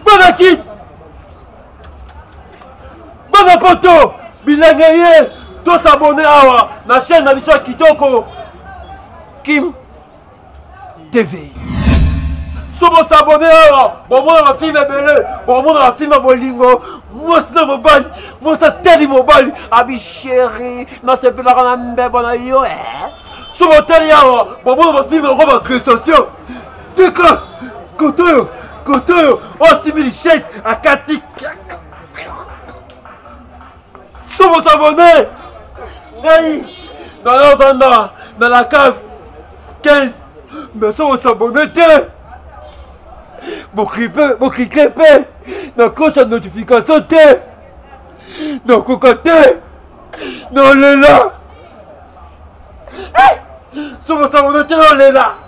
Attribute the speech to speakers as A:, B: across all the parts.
A: Bonakit Bana poto bilenge ye tosabone awa na chaîne na biso ya kitoko kim TV. So bo s'abonner awa, bo mona ba film ebele, bo mona ba film bolingo, mwasi na mobali, mwasi atali mobali, abi chéri, nasepelaka na mbebo na yo eh. So botali awa, bo mona ba film yango ba prestation. Tika, koto oyo, koto oyo, osimbi lishete, akati kaka. somo sabone ngai naya vanda na la cave 15 mais somo sabone te boklike mpe na cloche ya notification te nakoka te nalela somo sabone te nalela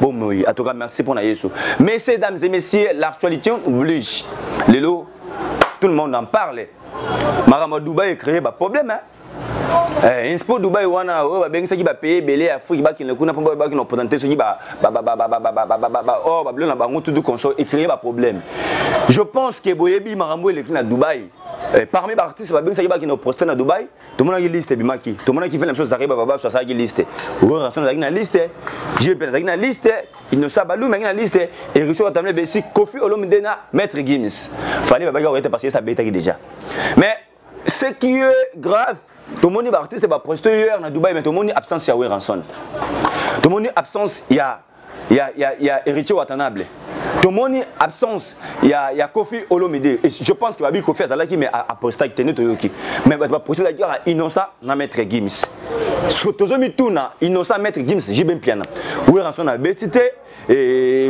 B: Bon, oui, en tout cas, merci pour Yesu. Messieurs, dames et messieurs, l'actualité oblige. Lelo, tout le monde en parle. Marama Dubaï a créé un problème. Hein? Eh, inspo dubai wana oyo babengisaki bapaye ebele ya afrike bakende kuna mpo babaki na opotante soki or babilo na bango tutu conso ecreye baproblème je pense ke boyebi makambo eleki na dubai eh, parmi baartiste babengisaki bakende oproste na dubai tomonaki liste ebimaki tomonaki fana biso zaki bababaso asalaki liste rorafan azalaki na liste jp azalaki na liste inosa balumi azalaki na liste eriso watamle besi kofi olomide na maître gims fali babaki akoyete parce que esa abetaki déjà mais ce qui est grave tomoni baartiste baprostitueur na dubai mais tomoni absence ya weranson tomoni absence ya ya, ya, ya héritier watanable tomoni absence ya, ya kofi olomide je pense que babi kofi azalaki mais apostaki te nde toyoki mais bato baprocès ezalaki kaka innocent na maître gims soki tozomituna innocent maître gims jibe mpiana weranson abeti te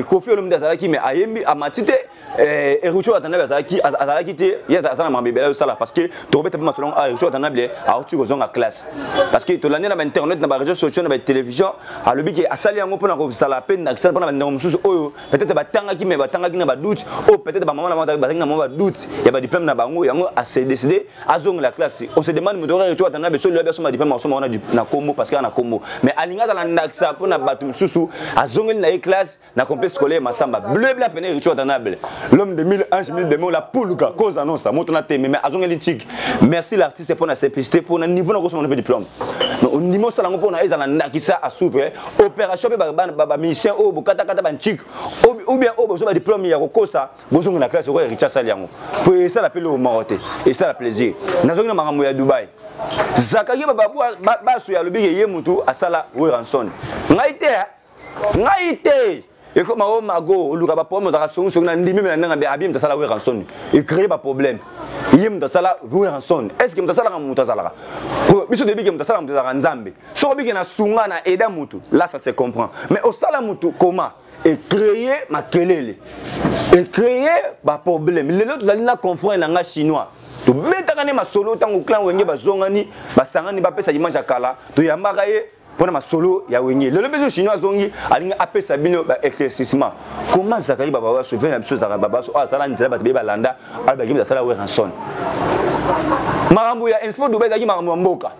B: kofi olomide azalaki mais ayembi amati te Eh, Ericho Watanabe azalaki azalaki te ye aza na makambo ebele azosala parce que tokobeta mpe masolo yango Ericho Watanabe auti kozonga classe parce que tolandi na bainternet na bareseau sociaux na batélévision alobi ke asali yango mpo na kozala mpe nakisala mpo na bandeko mosusu oyo peut-être batangaki mais batangaki na badoute oyo peut-être bamama na bango bazalaki na mwa badoute ya badiplome na bango yango ase décide azongela classe on se demande moto Ericho Watanabe soki lobi asomba diplome akosomba yango na kombo parce que ana kombo mais alingi azala ndakisa mpo na bato mosusu azongeli na ye classe na complexe scolaire masamba bleu bla pene richo atanable l'homme de 1000 anges 1000 démons la pulga cause annonce moto na teme mais azongeli ntiki merci l'artiste mpo na simplicité mpo na niveau na kosoma na mpe diplôme ondima osala yango mpo na ezala ndakisa asouve opération mpe bamisien oyo bokatakata bantike ou bien oyo bozwa badiplôme ya kokosa bozongi na classe okoya richa asali yango mpo esala mpe loo moko te esala plaisir nazongi na makambo ya dubai zakaki bababu baso ya alobi ye motu asala weranson ngai te ngai te ekoma o oh, mago oluka baproblème ozalaka songisongi na ndimi me na ndenge abie moto asala wera nsoni ecree baproblème ye moto asala wera nsoni est ce que moto asalaka moto azalaka biso toyebi ke moto asalaka moto ezalaka nzambe soki obike na sunga na aida motu là ça se comprend mais osala motu comment ecree makelele ecree baproblème lelo tozali na confrère na ngai chinois tobetaka nde masolo ntango clan wenge bazongani basangani bapesa image ya kala toyambaka ye mpona masolo ya wenge lelo mpe chinois azongi alingi apesa bino ba éclaircissement comment zakari bababaso ve na biso ezalaka babaso oyo azala nzela bato beye balanda alobaki mpe asala weranson makambo ya inspo dubai ezalaki makambo ya mboka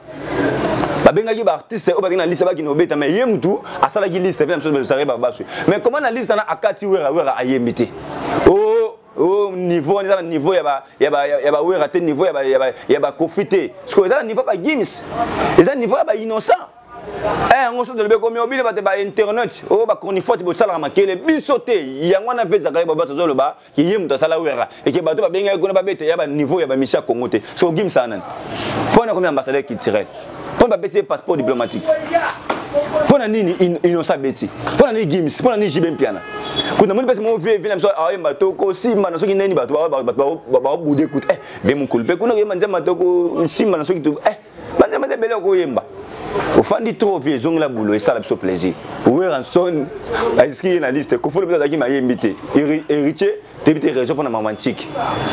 B: babengaki baartiste oyo bakei na liste bakende kobeta mai ye mutu asalaki liste mpe na biso zakari babaso mais comment na liste wana akati wera wera ayembi te o oh, o niveau wana eza na niveau ya ba ya ba ya ba wera te niveau ya ba ya ba ya ba kofi te siko eza na niveau ba gims eza niveau ya ba innocent eh yango soki tolobi ekomi obino bato ba internet oyo oh, bachronifote bosalaka makele biso te yango wana mpe ezalaka ye babato azoloba ye moto asala wera eke bato babengaki kuna babeta ya baniveau ya bamisi ya congo te soko gimisa nani mpo na komi ambassadeur culturel mpo bapesi ye passeport diplomatique mpo na nini inosa beti mpo na nini gims mpo na nini jibe mpiana kutu namoni mpasi moko vie na biso aoyemba tokosimba na soki nani bato baobude kutu e eh, ve mokulu mpe kuna koyemba nzemba tokosimba na soki eh, banzemba nde ebele okoyemba ofandi trop vie ezongela bulo esala biso plaisir weranson aziski ye na liste kofolo mpe azalaki mayembi te héritier toyebi te raison mpona mamantique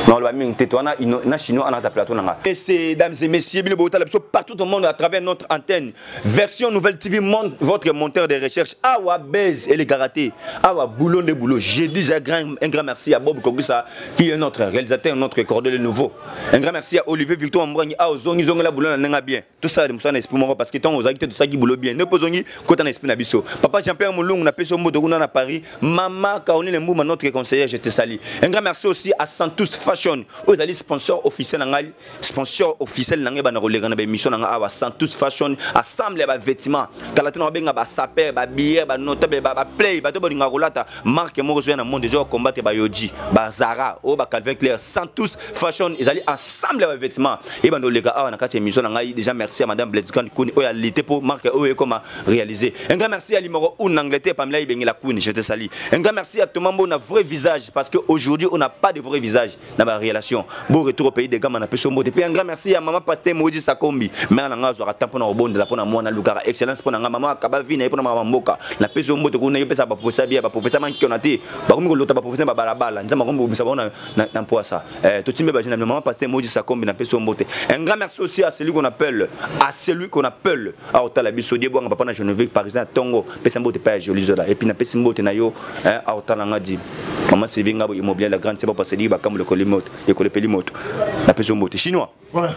B: naloba mingi te towana na chinois ana kata plateau na nga ese dames et messieurs bino botala biso partout au monde à travers notre antenne version nouvelle tv monde votre monteur de recherche awa base elekaka te awa boulot nde boulot je dis un grand, un grand merci à bob kogisa qui est notre réalisateur notre cordel nouveau un grand merci à olivier victor ambrangi awa ozongizongela boulot na ndenge bien tosala de mosala na esprit moko parce que ntango ozalaki te tosalaki bolo bien nde mpo ozongi kota na esprit na biso papa jean pierre molungu napesi yo mboto kuna na paris mama caroline mbuma notre conseillère je te sali un grand merci aussi à santus fashion oyo ezali sponsor officiel na ngai sponsor officiel na ngai banda koleka na baémission na ngai awa santus fashion assemble ya bavêtement kala tona babenga basaper babiere banotable baplay bato balingaka kolata marque moko ezoya na monde ezoya combattre bayoji bazara oyo ba calvin claire sans tous fashion ezali ensemble ya bavêtement ebanda oleka awa na kati ya émission na ngai déjà merci ya madame blaise grande kuni oyo alite mpo marque oyo ekoma réalise un grand merci ya limoko un angleterre pamela ebengela kuni je te sali un grand merci ya thomas mbona vrai visage parce que aujourd'hui on n'a pas de vrai visage na ba relation bo retour au pays de gama na peso mbote pe un grand merci ya maman pasteur Moïse Sakombi mère na nga azwaka temps pona obondela pona mwana lukaka excellence pona nga maman akaba vie na ye pona maman mboka na peso mbote kuna yo pesa ba professeur bia ba professeur man kiona te ba komi ko lota ba professeur ba bala bala nzamba komi bobisa ba na na mpoasa eh to timbe ba jina maman pasteur Moïse Sakombi na peso mbote un grand merci aussi à celui qu'on appelle à celui qu'on appelle à otala biso die bwanga papa na Geneviève parisien tongo pesa mbote pa ya joli zola epuis napesi mbote na yo auta na nga di mama sylvie ngabo immobilier la grande seba paseli bakambo lekoli moto ekolepeli moto napesi yo mbote chinois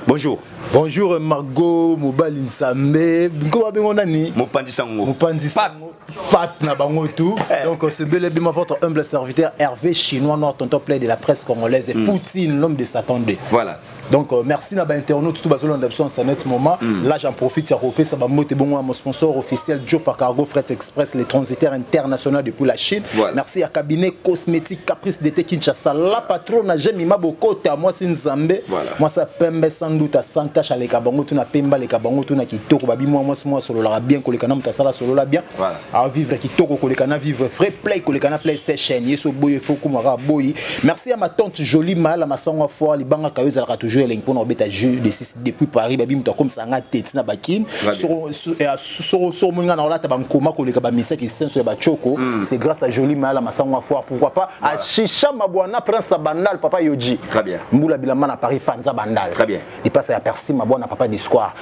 B: bonjour bonjour margo
C: mobali nsambe nko babengo nani mopanzi sango mopanzi
B: sango pat
C: na bango tout eh. donc c'est bel et bien votre humble serviteur hervé chinois noir tonton play de la presse congolaise et mm. poutine l'homme de satan 2 voilà donc
B: euh, merci
C: na bainternaute tout bazolanda biso en sanet moment mm. là j'en profite ya kopesa bambote bongo ya mon sponsor officiel jofa cargo fret express les transitaires international depuis la chine voilà. merci ya cabinet cosmétique caprice d'été kinshasa la patrona jemima bokota mwasi nzambe voilà. mwasi apembe sans doute à santache aleka bango tuna pemba aleka bango tuna kitoko babimwa mwasi mwa asololaka bien koleka na moto asala asolola bien voilà. a vivre kitoko koleka na vivre vrai play koleka na playstation yeso boye faut kuma ka boyi merci à ma tante jolie mala masangwa fort libanga kayo ezalaka toujours elengi mpona kobeta jeu de 6 depuis paris babi moto akomisa nga te ntina bakine soko moi nga na olata bankoma koleka bamisa kisenso ya bachoko hmm. c'est grâce à jolie mala masangwa fort pourquoi pas à chicha mabwana prince ya bandal papa yoji mbula bilamba na paris panza bandal ipasa ya persi mabwana papa discoire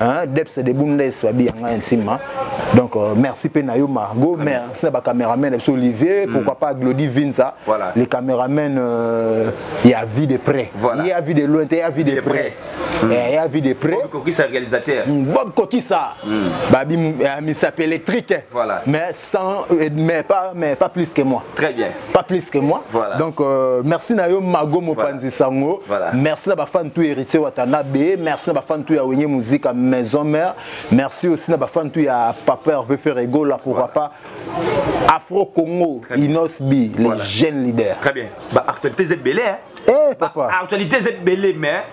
C: hein deps de bunda eswabi yanga intima donc euh, merci pe na yo Margot merci na ba cameraman biso Olivier mm. pourquoi pas Glody Vinza voilà. les cameraman euh, ya vie de près voilà. ya vie de loin te ya vie de, de près mm. eh, ya vie de près Bob Kokisa réalisateur
B: mm, Bob Kokisa
C: mm. babi euh, mi s'appelle électrique voilà. mais sans euh, mais pas mais pas plus que moi très bien pas plus
B: que moi voilà.
C: donc euh, merci na yo mago mopanzi voilà. sango voilà. merci na bafan tout héritier watanabe merci na bafan tout ya wenye musique à maison mère merci aussi na bafan tout ya papa hervé ferrego là pourquoi voilà. pas afro congo inosbi les voilà. jeunes leaders très bien ba actualités
B: ebele hein Eh, papa. Ba
C: actualité c'est belé
B: mais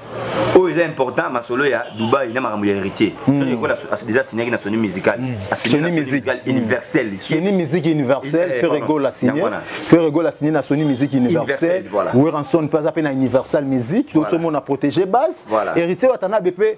B: oyo eza important masolo ya Dubaï na makambo ya héritier. Hmm. Soki ekola déjà signé na Sony Musical. Hmm. Sony Musical
C: hmm. universel. Sony
B: Musique
C: universel, eh, Ferre Gola signé. Ferre Gola signé na Sony Musique universel. Weranson pas appelé na Universal Musique, tout le monde a protégé base. Héritier Watanabe pe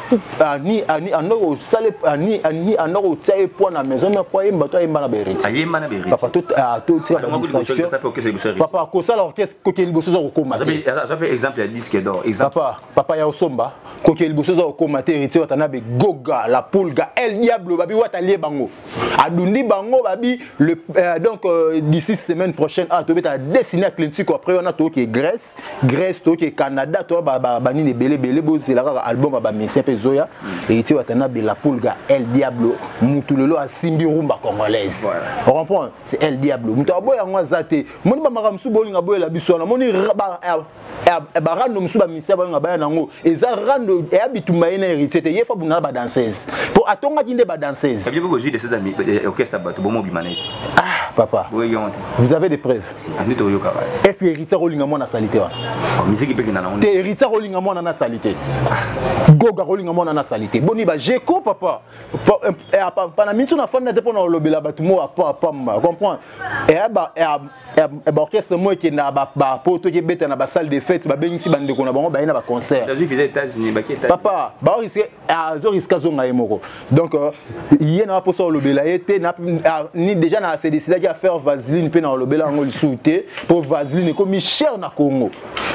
C: ani ani anda kosala ani ani anda kotia ye poids na maison mais poids yemba to ayemba na beriti ayemba na beriti papa to
B: to tika ba
C: distraction papa kosala orchestre koke liboso za kokoma te aza pe exemple ya
B: disque d'or exemple papa papa ya osomba
C: koke liboso za kokoma te heritier wata na be goga la pulga el diablo babi wata lie bango adundi bango babi le, euh, donc euh, d'ici semaine prochaine ah tobeta dessine ya clintiko après wana toyoki grèce grèce toyoki canada to banini ebele ebele bozela kaka album ya bamesien mpe ezoya eiti watana bela pulga el diablo mutu lelo asimbi rumba congolaise comprendre c'est el diablo moto aboya yango aza te moni bamaka mosusu bolinga boyela biso wana moni eh, barando mosusu bamisia bayo na baya nango eza rando eya bitumba ye na héritier te ye fa bunda na badanseuse mpo atongaki nde badanseuse ah
B: papa vous avez des preuves
C: ah, est ce que héritier akolinga mwana salite wana oh,
B: te héritier akolinga mwana na
C: salite ah. goga akolinga mwana na salite boni bajeko papa eh, eh, pana mintu na fanda te mpo na kolobela bato mo apamba comprendre baorchestre moko ekendaka bapoto ekebeta na basalle de fete babengisi bandeko na bango baye na baconcertpapa
B: baoriske
C: azoriske azonga ye moko donc euh, ye na baposa kolobela ye te déjà na se décidaki ya faire vaseline mpe na kolobela yango lisusu te mpo vaseline ekomi cher na congo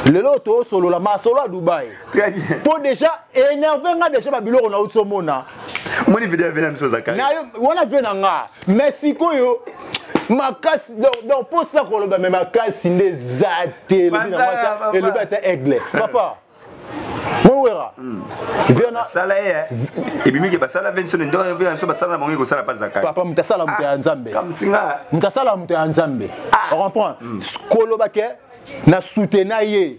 C: lelo toosolola masolo ya dubai Très bien. Po
B: déjà
C: énervé nga déjà ba biloko na uti omona. Moni vidéo vena
B: miso zakari. Na wana vena nga.
C: Mais sikoyo makasi donc po sa koloba mais makasi nde za te lobi na mata elobi ata aigle. Papa. mowera sala ye
B: eh. ebimiki basala ve nso nde wana biso basala na bango ekosala mpa zakari papa moto asala moto ya ah,
C: nzambe moto
B: asala moto ya
C: nzambe ah. comprendre hmm. koloba ke na soutena ye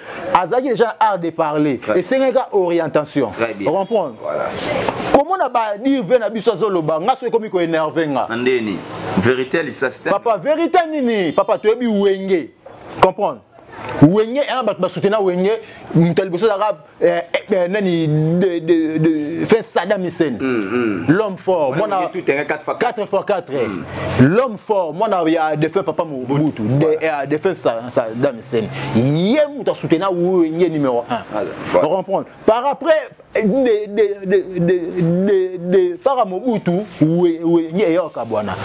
C: azalaki déjà na art de parler esengeli ka orientation comprendre voilà. komona badir ve na biso azoloba nga soki ekomi koenerve nga ndeni
B: verité ya lisasi papa verité nini
C: papa toyebi wenge comprendre wenge yana bato basutena wenge moto ya liboso ezalaka eh, eh, eh, nani fin sadam hisen mm, mm. l'homme fort mwana 4 fois 4 mm. l'homme fort mwana ya defin papa mobutu defin sadam scène ye moto asutena wenge numéro 1 ah, comprendre par après depaka mobutu wenge eyoka bwana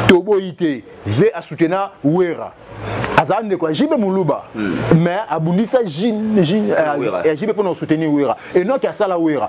C: toboyi te ve asutena wera azala ndeko ya jibe moluba hmm. mais abundisa jibe mpona kosoutenir wera enoki asala wera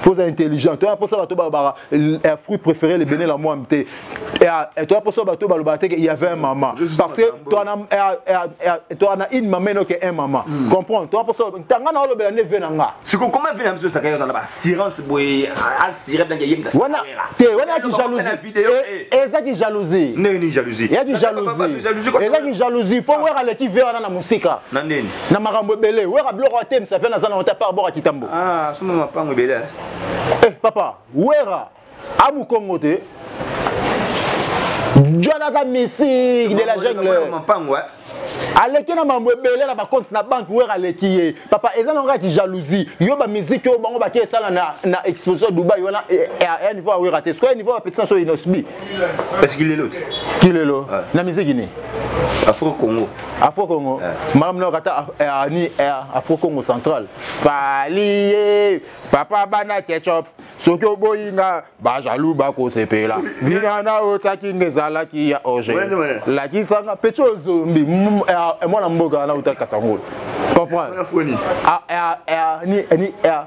C: faut être intelligent toya mposa bato balobaka un fruit préféré le bene la mwambe te toya mposa bato balobaka te il y avait un maman parce que toa na une maman enoke un maman comprendre toya mposa ntanga na olobela nde ve na nga sikokoma ve na biso
B: esaka yo azala baassurance boye assuré blanke yemda wana te wana yaki
C: jalousie ezaki jalousie ndenge nini jalousie yaki
B: jalousie
C: ezaki jalousie mpo wera aleki ve wana na mosika na nini na makambo
B: ebele
C: wera biloko ya te msavia naza na wata par bora kitambo ah, suma mapango
B: ebele eh? eh papa
C: wera amukongo te jonaka misik de la jungle mapango eh?
B: aleki
C: na mambo ebele na bacompte na banke wera aleki ye papa eza nango kaki jalousie yo bamiziki oyo bango bake esala na, na exposition dubai wana eh, eh, ya niveau ya wera te sikoya niveau ya bapekisa so inosbi Est-ce qu'il est
B: l'autre Kilelo Ouais. na
C: miziki ni Afro Congo.
B: Afro Congo Ouais.
C: malam na kata eh, ah, ni eh, Afro Congo central Falie papa bana ketchup soki oboyi nga ba jaloux ba kosepela vina na otaki ngezalaki ya oje Ouais, ouais. lakisa nga pecho zombi mm, eh, ah, eh, mwana mboka na utaki kasangolo comprendre Afro ni. Ah, ah, ah, ni ni ah,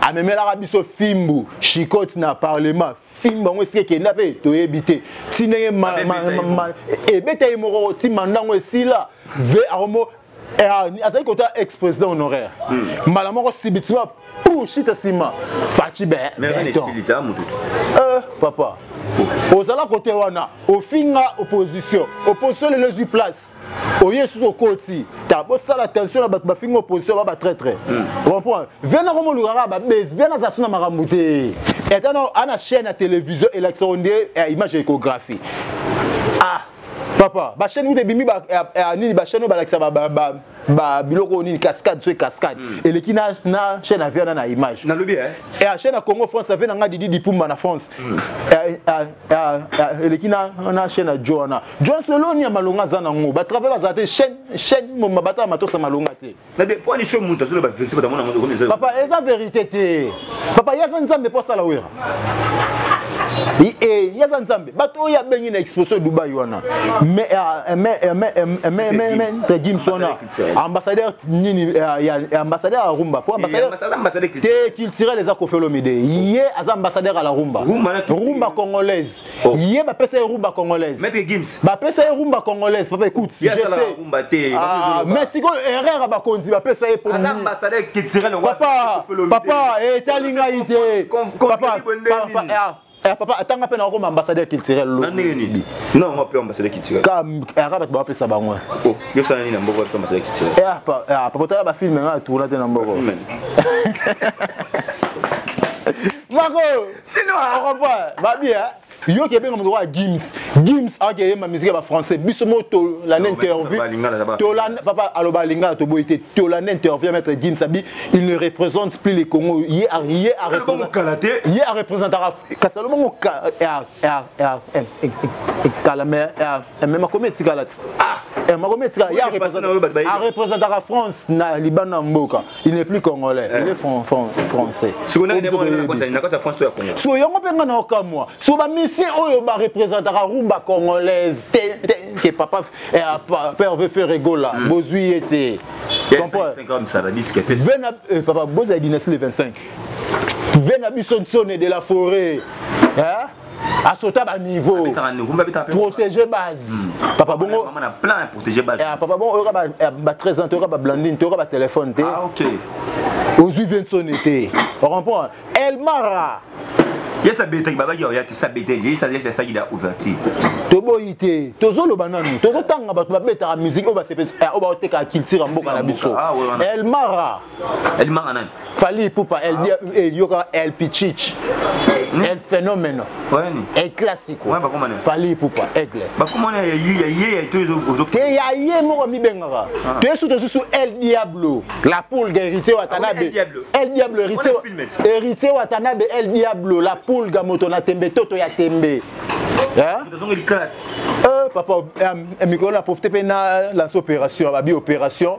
C: amemelaka biso fimbu chicote na parlement fimbu yango esika ekenda mpe toyebi te ti ndenge ebeta ye moko ti manda yango esila ve akomo eh, ah, azali kota ex président honoraire hmm. mbala moko sibitima pushita nsima faci be papa ozala kote wana ofinga opposition opposition lelo ezwi place oye lisusu okoti ta bosala attention na bato bafingi opposition ba batraitre hmm. comprendre vena komo olukaka babesi vena aza so na makambo te eta ana chaîne ya télévision elakisaka onde eh, image ya échographie ah papa bachaîne kuta ebimi eh, eh, nini bachaîne oyo balakisa babiloko oyo nini cascade so cascade hmm. eleki na chaîne ya viana na image nalobi
B: chaîne ya congo
C: france ave na ngai didi dipumba na france hmm. eleki na chaîne ya jo wana John Solo ni ya malonga aza nango ba travail bazala te chaîne chaîne moma batala matosa malonga te na de point iso mutu
B: azoloba verité bata mona moto komeza papa eza verité
C: te papa ye aza nzambe mpo asala wera e ye aza nzambe bato oyo abengi na exposition ya dubai wana tedgims wana ambassadeur nini ambassadeur ya rumba mpo te culturel eza kofelomide ye aza ambassadeur ya la rumba rumba congolaise Oh. ye bapesa ye rumba congolaise bapesa
B: ye rumba
C: congolaise papa écoute ah, mais sikoyo erreur ya bakonzi bapesa ye
B: papa
C: etali ngai te papa eh, papa atanga mpe nakokoma ambassadeur culturel lobi
B: bato
C: bapesa bango eh.
B: oh, eh, ah, ah, papa otala bafilme
C: nga atourna te na mboko mako sino ah. okomprendre babi hein? yo ke benga moto wa gims gims ake yemba musique ya ba français biso mo to la interview to la papa aloba lingala to boyete to la interview maître gims abi il ne représente plus les Congo ye a ye a représenter ye a représenter kasalo mo ka ya ya ya kala mais Eh, mais makomi etikala ti ah, eh, makomi etikala arepresentaka france na libanda ya mboka il n'est plus congolais eh. il est français
B: soki yango mpe ngai na okamwa
C: so bamisien oyo barepresentaka rumba congolaise ke papa père veut faire egola hmm. bozwi ye te
B: papa
C: bozala dynastie le 25 ve na biso nsone de la forêt asota ba niveau protéger base hmm. papa bongo na plein protéger
B: base eh, papa bongo oyoka ba eh,
C: ba 13 ans toyoka ba blandine toyoka ba téléphone te ah OK
B: ozui
C: Vincent te on comprend Elmara yesa
B: betaki babaki oya te sa beteli yesa yesa saki da ouverture toboyi
C: te tozoloba nanu tozotanga bato babetaka musike oyo basepesa oyo baotekaka culture ya mboka na biso elmara elimanga
B: nani fali ipupa
C: el dia ah. eh, yoka el pichich hmm? el fenomeno el classico fali ipupa aigle bakomana ya ye ya
B: ye ya to te ya
C: ye moko mibengaka ah. te su te susu el diablo la pulga héritier watanabe ah el diablo héritier héritier watanabe el diablo la pulga moto na tembe toto ya tembe eh, papa eh, mikolo na profite mpe na lance opération babi opération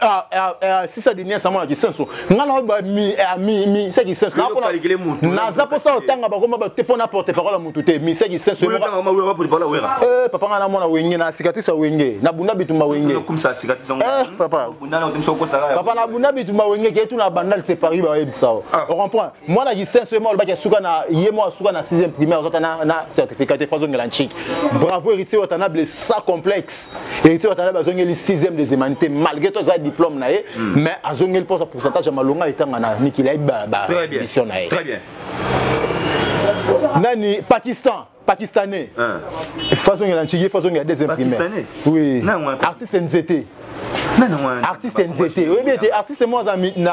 C: Ah, ah, ah, sisa dinia sama na kisenso nga na ba mi eh, mi mi se kisenso na pona naza posa otanga bakoma ba te pona porte parole mutu te mi se kisenso mo tanga ma wera porte parole wera eh papa nga na mona wenge na cicatrice wenge na bunda bitumba wenge comme ça cicatrice ngo
B: eh papa bunda na
C: otimso ko sala papa na bunda bitumba wenge ke tu na bandal c'est Paris ba yebisa o on comprend moi na kisenso mo ba ke suka na ye mo suka na 6e primaire ozata na na certificat te fazo ngela nchik bravo héritier watana blessa complexe héritier watala bazongeli 6e des humanité malgré to aza diplôme na ye hmm. mais azongeli mposa pourcentage ya malonga etanga na mikili ayebi bamission na ye
B: nani
C: pakistan pakistanais fazongela ntshiki fazongela deuxième primaire oui artiste nzete artiste nzete oyebi ete artiste moko aza na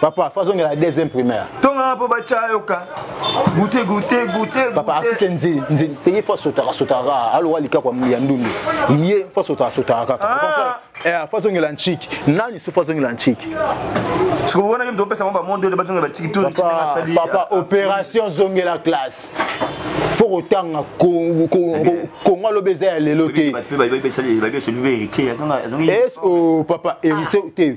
C: papa
B: fo azongela
C: deuxième primaire tongaka mpo batya
B: yoka
C: goute goute
B: goute papa artiste nzili
C: nzili te ye fo asotaka sotaka kaka alowa likako ya ndundu ye fo asotaka sotaka kaka ah. eh, fo azongela nciki nani so fo azongela nciki
B: sikoyo wana yo mtopesa ngo bamonde oyo bazongela baciki to asali papa ah.
C: opération zongela classe fo kotanga kongo alobi eza ya lelo te eh, oh, papa héritier te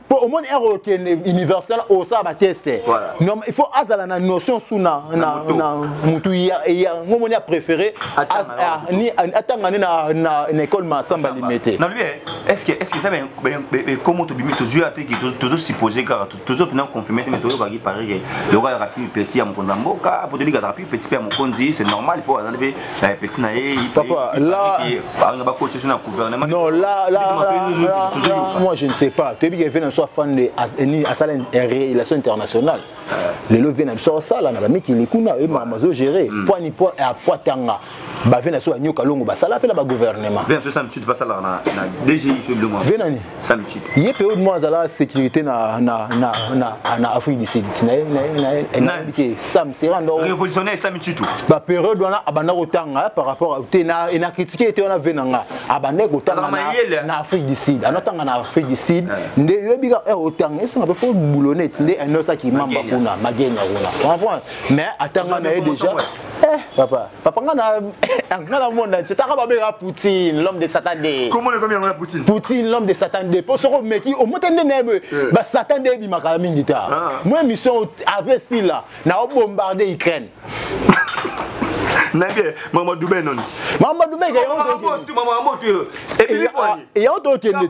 C: mpo omoni ere okende universel osala bateste il faut azala na notion su na motu yango omoni apréféré atanga nde na école masamba limete
B: ekomo tobimi tozwi ate tozosupposé kaka tozo mpena confirme te me toyokaki pareke lokola azalaka fille petit ya mokonzi ya mboka mpo toyebi azalaka fille petit mpe ya mokonzi c'est normal mpo azali mpe Eh, petit na ye anga bakoce na
C: gouvernement non là là moi je ne sais pas toyebi ke vena biso afande asala relation internationale eh. lelo vena biso asala na bamikili kuna ye mama azo gérer hmm. poani po apoi tanga bavena biso banyoka longo basala mpe na bagouvernement
B: vena nini sans
C: le titre ye
B: periode moko azalaka
C: sécurité na, na, na, na, na afrique du sud nayenayenayenayebi sam sera ndo révolutionnaire sami titu
B: baperiode wana
C: abanda kotanga par rapport te na critique ete wana ve na nga abandaki kotanga na afrique du sud anotanga na afrique du sud nde yebika eh, otanga esanga mpe fo boulonete nde anosaki mamba kuna magenya kuna mais atanga na ye déjà Eh, papa, papa nga na nga na monde entier taka ba bega Poutine, l'homme de Satan de. Comment le comme yango Poutine?
B: Poutine, l'homme de Satan
C: de. Po soko meki o mote nde na be eh. ba Satan de bi makala mingi ta. Ah. Moi mission avait si là, na o bombarder Ukraine. nayebi
B: mama dube noni mama dube eyango tokende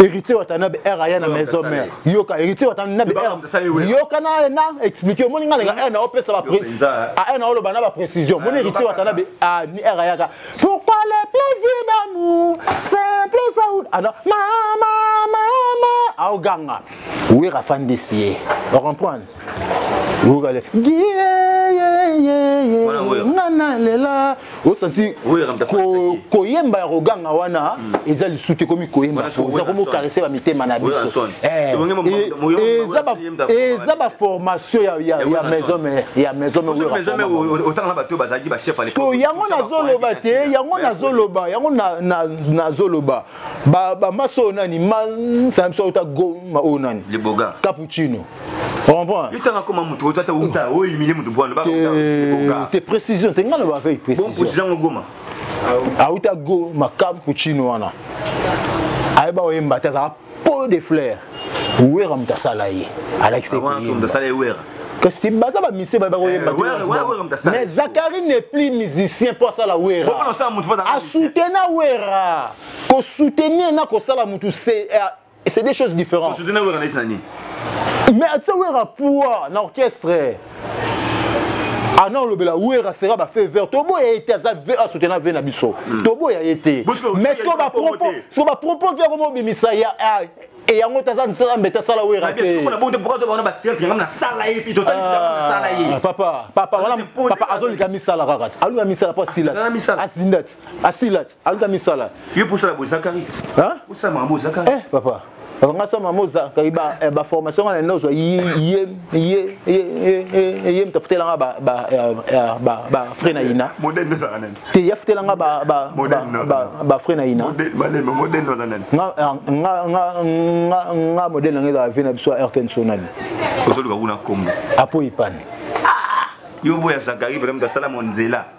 C: héritier watanabe r aya na maison mère yoka héritier watanabe r yoka na na expliquer omoni nga nanga r na opesa ba a r na oloba na ba précision moni héritier watanabe a ni r ayaka pourquoi le plaisir d'amour c'est plaisir alors mama mama aoganga wera fandisi ye ocomprendre okale nga nalela osanti koyemba ya koganga wana hmm. eza lisu te ekomi koyemba eza komokarese bamitema na biso eh, eza baformation ya maison mare ya maison
B: mareyango nazoloba
C: te yango nazoloba yango nazoloba ba ba maso oyo nani ma ça me soit ta go ma oyo nani le boga cappuccino yotanga koma moto oyo tata
B: uta oyo imile moto bwana te
C: précision te ngai loba avec précision ngo goma
B: auta
C: go makampu chino wana ayeba oyemba te azala po de flair wera moto asala ye alakisa
B: kasi
C: baza bamisie baye bakoyemba eh, mais zakari ne plus musicien mpo asala wera asutena wera kosoutenir na kosala motu c'est euh, des choses différentes
B: mais atisa
C: wera poa na orchestre ana olobela wera sera bafe vert toboya ye te aza v asutena v na biso hmm. toboya ye te mais siko bapropose yango mobimisa ya e yango te aza misala mbete asala wera
B: tepapa
C: azolika misala kaka ti alika misala mpo asila ti azinda ti asila ti aluka misala ye mpo osala boye zakari
B: osala makambo
C: oyo zakari
B: eh, papa nga
C: soma moza kaki ba eh, ba formation nga na ozwa ye ye ye ye mtafutela nga ba ba eh, eh, ba ba frais na ina modèle ndio zaka nani
B: te ya futela nga ba
C: ba ba ba frais na ina modèle modèle modèle ndio
B: zaka nani nga nga nga
C: nga nga modèle na nga vina biso RTN sonal ozoluka kuna
B: kombo apo
C: ipani
B: ah! yo boya zakari
C: vraiment
B: asala mo nzela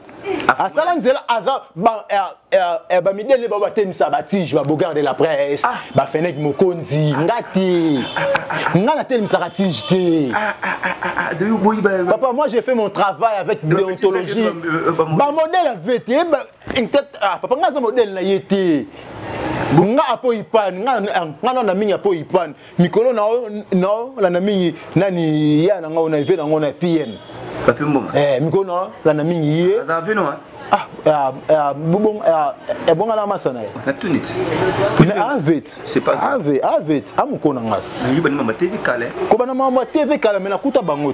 C: asala nzela aza bamidele eh, eh, eh, bao batemisa batige babogard de la presse ah. bafenek mokonzi ah. nga te ah, nga natelemisaka tige te papa moi j'ai fait mon travail avec déontologie euh, euh, bamodele ave te papa nga aza modele na ye te nga apo ipani nga nana mingi apo ipani mikolo na na la na mingi nani ya na ngao na eve na ngao na PM papi mboma eh
B: mikolo na la na
C: mingi ye aza vino
B: hein ah ah, ah
C: bon ah, eh, ebonga na masa na ye na tunit
B: mais
C: avet c'est pas avet
B: avet amukona
C: ngai ngiba ni mama TV
B: kale ko bana mama TV
C: kale mais nakuta bango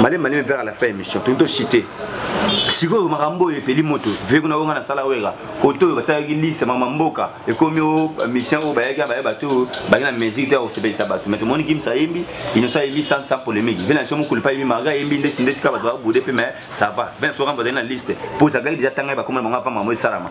B: malembe malembe vers la fin émission tondi tocite sikoyo makambo oyo epeli moto ve kuna onga nasala wera kote oyo basalaki liste mama mboka ekomi o mission oyo bayaki baye bato oyo baye na musique te ya kosepelisa bato mai tomoni kimsa ayembi inoso ayembi sans sans polémique ve na biso mokolo mpe ayembi marga ayembi ndeti ndeti kaka bato babude mpe mai ça va ve na biso kamba azali na liste mpo ezalaki deja tanga ye bakoma na bango apa mama esalama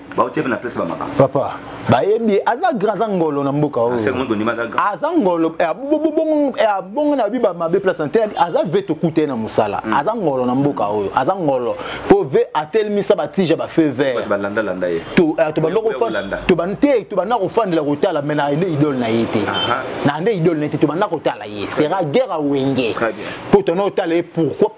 B: baotie na place bamakambo papa bayebi
C: aza grand aza ngolo na mboka oyo ah, aza
B: ngolo
C: eh, eh, abongo na biba mabe place na te aza ve tokuta ye na mosala hmm. aza ngolo na mboka oyo aza ngolo mpo ve atelemisa batija bafeu vert te tobanda kofandela kotala mai na nde idole na ye te na nde idole na ye te tobanda kotala ye sera guerre awenge mpo tona otala ye pourquoi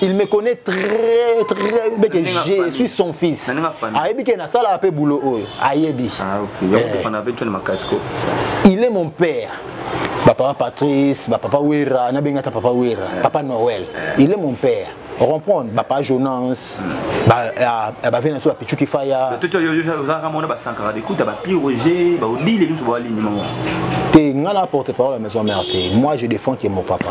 C: il me connaît très très bien que je suis son fils ayebi ke nasalaka mpe boulot oyo ayebi ah, eh. il est mon père bapapa patrice bapapa wera nabengata papa wera eh. papa noël eh. il est mon père comprendre bapa jonas bave na biso bapichuki faya
B: te ngai na
C: porte parole ya maison mère te moi je défends ke mon papa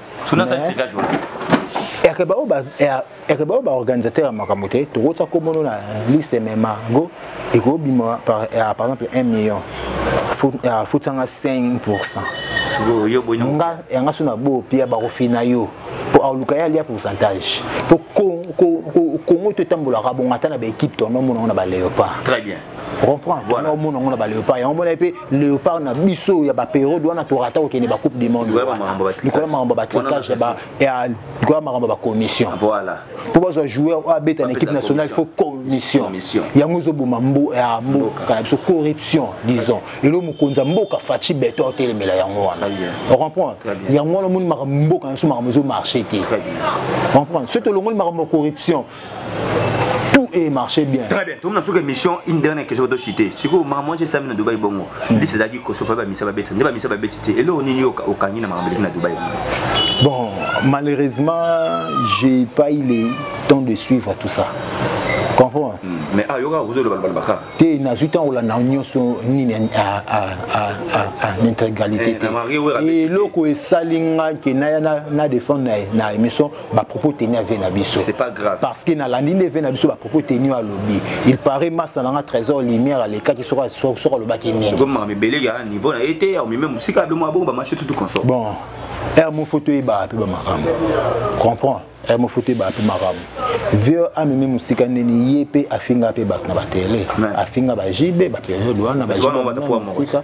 C: suna sa
B: tika jour
C: yake bao ba yake bao ba organisateur ya makambo te tokotisa komono na liste mema go ekobima par par exemple 1 million afutanga 5 pourcent
B: nga yanga so na bo
C: pia bakofina yo mpo aluka ye alia pourcentage mpo kongo to etambolaka bongo ata na baekipe to namonango na baleopard
B: comprends voilà.
C: omona yango na baleopard yango omona mpe léopard na biso ya baperiode wana torata kokende bacoupe du monde likolo ya makambo ya batricage likolo ya makambo ya bacommission voilà mpo bazwa
B: joueur
C: oyo abeta na équipe nationale il faut commission yango ezoboma ya mboka na biso corruption disons elo mokonzi ya mboka faci beton otelemela yango wana ocomprendre yango wana omoni makambo mboka na biso makambo ezomarche te ocomprendre soki tolongoli makambo ya corruption tout est marché bien très bien tomona soki émission
B: une dernière question to cité sikoyo makambo wana esami na dubai bongo liste ezalaki kosofa bamisa babeti nde bamisa babeti te eloko nini okangi na makambo eleki na dubai bon
C: malheureusement j'ai pas eu le temps de suivre tout ça comprends hmm. mais ayoka
B: ah, kozoloba loba bakaka te nazwi ntango
C: olanda nyonso nini intégralité eh, te eloko esali nga ke naya na défendre na émission ba propos tenus avec na biso c'est pas grave parce que na
B: landi nde
C: na biso ba propos tenus à lobby il paraît massa nanga trésor lumière aleka ki soka soka loba ki nini comme ma mebele ya
B: niveau na été au même musika be mwa bongo ba marché tout tout consort bon er
C: mo photo e ba pe ba makambo comprends er mo photo e ba pe makambo vieux amemi musika nini ye pe afinga pe ba na ba télé afinga ba JB ba période wana ba JB musika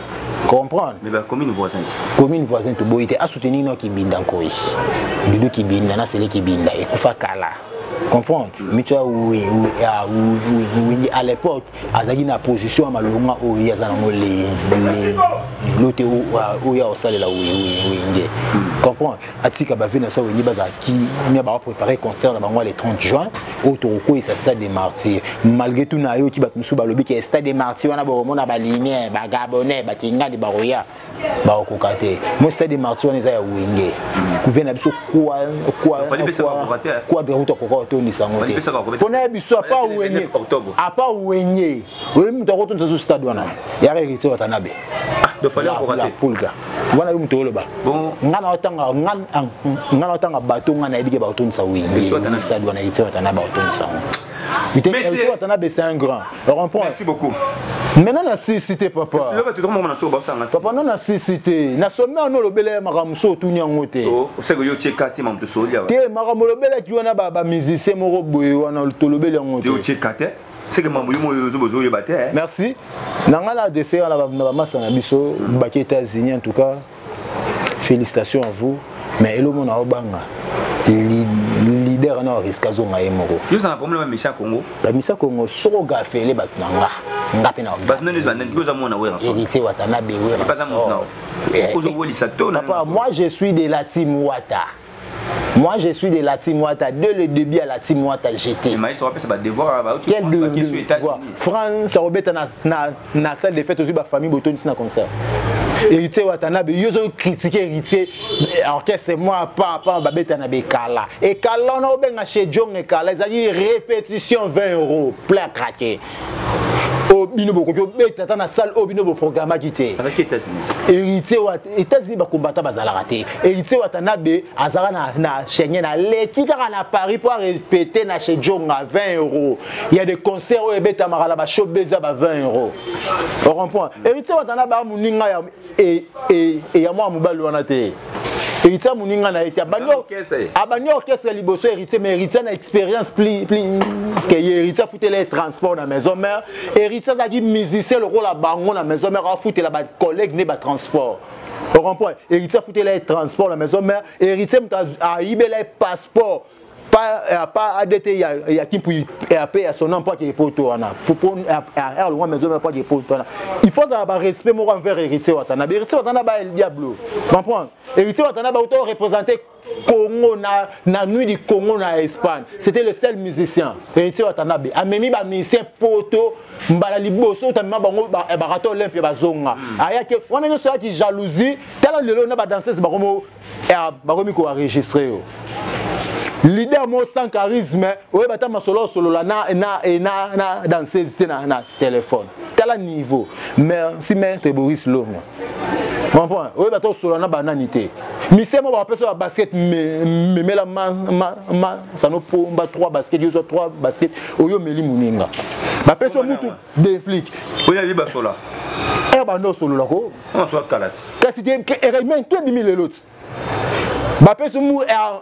C: comprendre mais ba commune
B: voisine commune voisine to
C: boyite a soutenir no kibinda nkoi dudu kibinda na sele kibinda ekufa kala comprendre mitu ya windi à l'époque azalaki na position ya malonga oyo ye aza nango lote oyo ya kosalela wenge comprendre atika ba vie na so wengi bazala kimia ba préparer concert na bango le 30 juin oyo tokokweyisa stade de martyr malgré tout nayoki bato mosusu balobi ke stade de martyr wana bokomona balinien bagabonais bakingani bakoya bakokoka te mo stade de martyr wana eza ya wenge kuvie na biso quadre kuta koka otondisa yango te mpona ya biso apa wenge oyebi moto akotonisa su stade wana yaka héritier watanabe ah,
B: pulga wana yo
C: moto oloba nga na otanga nga ah, na otanga bato nga nayebi ke bakotondisa weyistade wana héritier watanabe akotondisa ngo héritier watanabe c'est un grand comprends merci beaucoup
B: maintenant na
C: sisi te papa papa no na sisi te na somi wana olobela ya makambo so otuni yango te oh,
B: te makambo olobelaki
C: wana bamusicien moko boye wana tolobeli yango te
B: seke mambo yo moyo ozo bozo yeba te eh. merci na
C: ngai na dese wana na bamasa na biso baki états-unis en tout cas félicitations à vous mais elomo na obanga leader wana oriska azonga ye moko yo ozanga problème ya misia
B: congo bamisia congo
C: soko gafele bato na nga nga mpe naheritier
B: watanabe werapapa moi je suis de
C: la team wata Moi, je suis de la team Wata. Dès le début à la team Wata, j'étais. Mais ils
B: sont appelés devoir. Quel de, de
C: quoi France, Robert, na na salle de fête aussi, ma famille, Boton, c'est un concert. héritier watanabe yo ozo kritike héritier orchestre mwa pa pa babetana bekala ekala wana obenga chez jong ekala ezalaki répétition 20 euro plein craquer oyo oh, bino bokoki obeta ata na salle oyo oh, bino boprogramaki te
B: héritier wa
C: états-unis bakombata bazalaka te héritier watanabe azalaka na, na schengen aleki kaka na paris mpo arepete na chez jonga 20 euro ya de concert oyo ebetamaka na bashobeza ba 20 euro ocomprend héritier watanabe amoninga ya e, e, e ya mwana mobali wana te héritier moninga na ye te abandi orchestre liboso héritier mais héritier na expérience pli pli que ye héritier afutela ye transport na maison mère héritier azalaki musicien lokola bango na maison mère afutela bacollègue ne batransport okomprendre héritier afutela ye transport na maison mère héritier moto ayibela ye passeport pas euh, pas ADT ya ya kimpu ya pe ya sona mpa ke poto wana pour pour er longwa maison mpa ke poto wana il faut ça ba respect moko envers héritier watana ba héritier watana ba el diablo comprendre héritier watana ba auto représenter Congo na na nuit du Congo na Espagne c'était le seul musicien héritier watana be amemi ba musicien poto mbala liboso tamema bango ba barato olympia bazonga ayaki wana nyoso yaki jalousie tala lelo na ba danseuse bango ya bakomi ko enregistrer yo leader mo sans charisme oye bata masolo osolola na na na na danseuse te na na téléphone tala niveau merci maître Boris Longo comprendre oye bata osolola na banani te misemo bakopesa ba basket memela masano pomba 3 basket yo zwa 3 basket oyo omeli moninga bapesi mutu Déplic. Oya biba sola.
B: Eh ba no
C: solo la ko. On soit kalati.
B: Kasi te
C: eraimen
B: to
C: bimi le lot. Ba
B: peso
C: mu er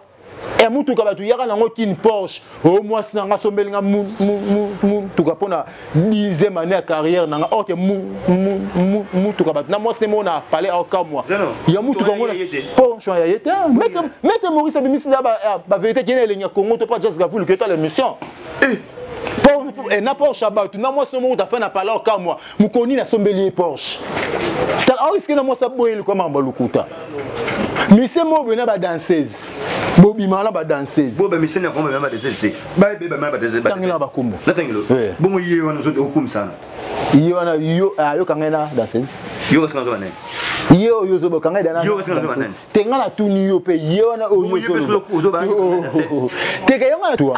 C: e motuka bato yaka nango kini porsche o oh, mwasi na nga asombeli nga motuka mpo na dixième année ya carrière na nga or ke motuka bato na mwasi nde moko na palais aokamwa ya motuka yango porsche ya ye te mete maurice abimisi na bavérité kena elengi ya congo to mpa jas gavulu keta l'émission eh, na porsche ya bato na mwasi no moko tafai na pala okamwa mokolo nini asombeli ye porsche tala aoriske na mwasi aboye likoya makambo ya lokuta mise moko boye na badanseuse bobima na
B: badanseusebobangela bakombo
C: bongo
B: ye wana okomisana ye wana
C: yo ayoka ah, ngai na danseuse yo kasi nazoba
B: nani ye oyo ozoboka
C: ngai dana te
B: ngai natuni yo
C: mpe ye wana oyo teka yango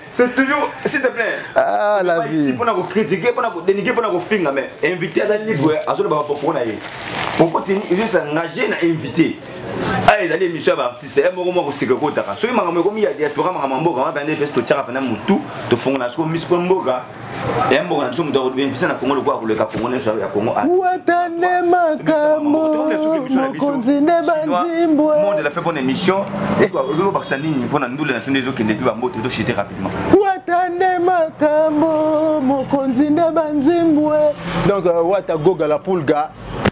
B: C'est toujours, s'il te plaît. Ah, la vie. Ici,
C: pour nous critiquer, pour nous
B: dénigrer, pour nous finir, mais invité à la libre, à ce moment-là, pour nous. Pourquoi tu es engagé à inviter aya ah, ezali émission ya baartiste ye eh, moko moko koseka ekotaka soki makambo ekomi ya diaspora makambo ya mboka wana mpenza mpe totyaka mpenza motu tofongola soko miso mpo mboka ya mboka na biso moto akobenefisa na kongo lokola koleka kongo nyonso ya kongo watane
C: makambomokonzi nde banzimbwe monde la fait bonne
B: émission ezobakisa nini mpo na ndule na biso nde ezokende mpe bambote ezoshite rapidement watane
C: makambo mokonzi nde banzimbwe donc euh, wata goga la pulga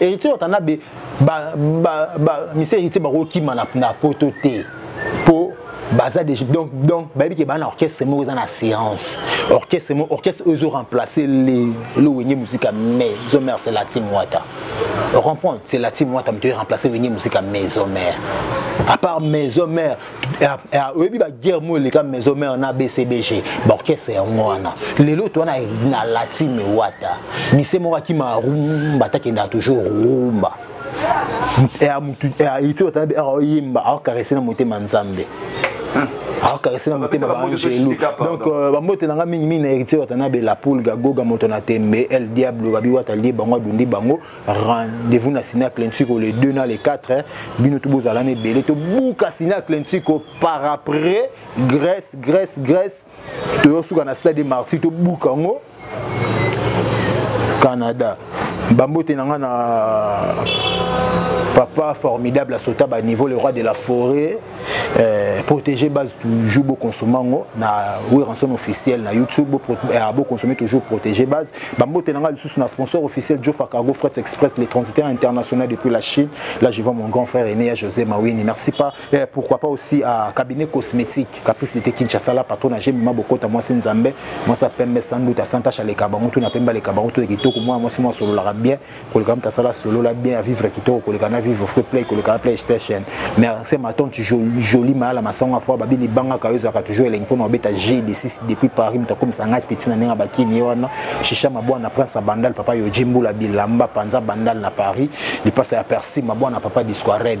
C: Héritier Watanabe ba ba ba monsieur Héritier ba kima na na poto te po baza déjà donc donc bayebi ke bana orchestre moko eza na séance orchestre moko orchestre oyo ezo remplacer le le wenge musika mais ezo mère c'est latin wata comprendre c'est latin wata moto ezo remplacer wenge musika maison mère à part maison mère Ah, ah, oyebi baguerre moko eleka maison mare na bcbg baorchestre yango wana lelo to wana na latine wata mise moko akima rumba takendaka toujours rumba iti wata oyemba aokarese na motema nzambe aokarese na motema baangelu donc euh, bambote na ngai mingimingi na héritier wata na bela poulga goga moto na tembe el diablo babi wata lie bango adundi bango rendez-vous na sina clentiko le 2 na le 4 hein. bino tout bozala na ebele tobuka sina clentiko par après grèce grèce grèce toyosuka na stade de martyr tobuka yango canada bambote na ngai na papa formidable asota baniveau le roi de la forêt Euh, protéger base toujours beau consommer ngo na Weranson officiel na YouTube beau euh, consommer toujours protéger base ba mbote nanga lisusu na sponsor officiel Jofa Cargo Freight Express les transitaires internationaux depuis la Chine là je vois mon grand frère aîné José Mawini merci pas et euh, pourquoi pas aussi à cabinet cosmétique Caprice de Kinshasa la patron j'ai mima bokota moi c'est Nzambe moi ça pembe sans doute à Santa Chaleka bango tout na pemba les kabango tout les kitoko moi moi c'est moi solo la bien koleka mtu asala solola bien avivre kitoko koleka na vivre fre play koleka na playstation mais se matonte joli mayala masango afo babi libangaka yo ezalaka toujours elengi mpona obeta g de 6 depuis paris moto akomisa ngai peti na ndenge ya bakini ye wana shisha mabwana prince ya bandal papa yoji mbula bilamba panza bandal na paris lipasa ya persi mabwana papa disco red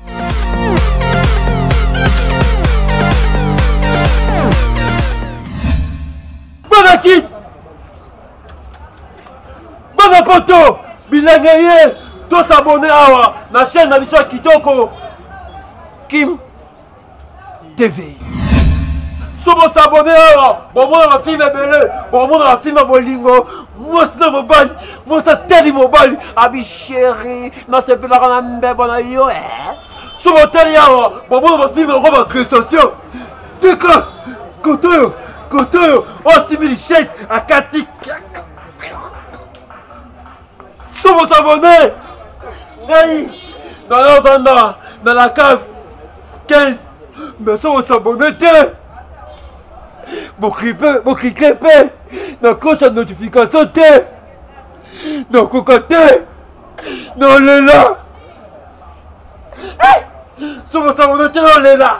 A: Bonakit Bana poto bilenge ye tosabone awa na chaîne na biso ya kitoko Kim TV. so bosabone awa bomona bafilme ebele bomona bafilme ya bolingo mwasi na mobali mwasi atali mobali abi sheri nasepelaka na mbebo na yo e so botali awa bomona bafilme yango baagrestation tika koto oyo koto oyo osimbi lishete akati somo sabone ngai nala vanda na la cave 15 mais somo sabone te boklike mpe na kosa notification te nakoka te nalela somo sabone te nalela